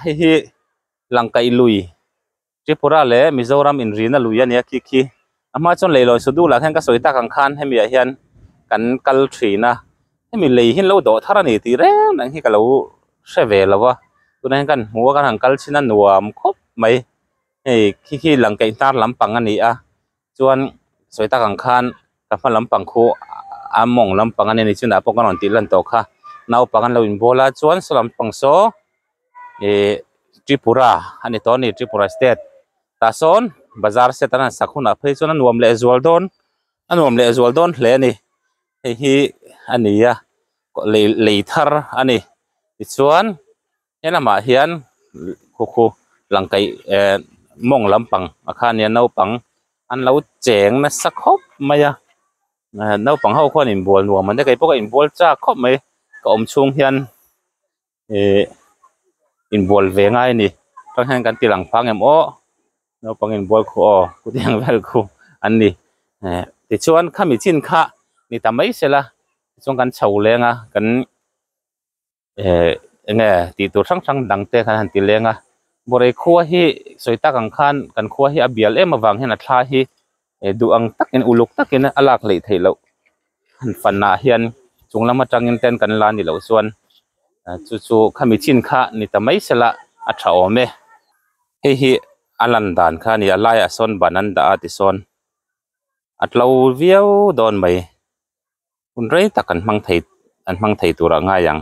Hei hi Langkaih lui, Tripura leh Mizoram inrihna lui a nia khi khi. A hma chuan leihlawi sudu lah khian ka sawi tak ang khan hemi ah hian kan kal thin a, hemi lei hi an lo dawh thar a ni tih reng reng hi ka lo hre ve lo a, tunah hian ka han hmu a ka ra'n kal chhin a nuam khawp mai, hei khi khi Langkaih hnar lampang a ni a. Chuan sawi tak ang khan ka hma lam pang khu a mawng lam pang a ni ni chunah pawh ka rawn tih lan tawh kha naupang an lo in bawl a chuan saw lam pang saw ih tripura a ni tawh a ni tripura state tah sawn bazar set an han sak hunah phei chuan a nuam leh zual dawn a nuam leh zual dawn hle a ni hei hi a nia lei lei thar a ni tichuan. Helamah hian Khukhu Langkaih mawng lampang ah khan hian naupang an lo cheng nasa khawp mai a, naupang ho khawn in bual nuam ang te kei pawh ka in bual chak khawp mai, ka awm chhung hian ihh in bual ve ngai a ni, chutah hian kan tilang phang em awh naupang in bual khu aw khutiang vel khu an ni eh tichuan khami chin kha ni ta mai sela tichuan kan chho leng a kan. Ehh enge tih tur hrang hrang dang te khan han ti leng a Borei khua hi sawi tak ang khan kan khua hi a bial em avang hian a thla hi ehh duh ang tak in uluk tak in a lak leh theih loh han fan ah hian chung lam atang in te an kan la ni loh chuan ehh chu chu khami chin kha ni ta mai se la a tha awm e. Hei hi a lan dan kha a ni a a lai ah sawn ban an dah a tisawn a tlo viau dawn mai. hun rei tak an hmang thei an hmang thei tur a ngai ang.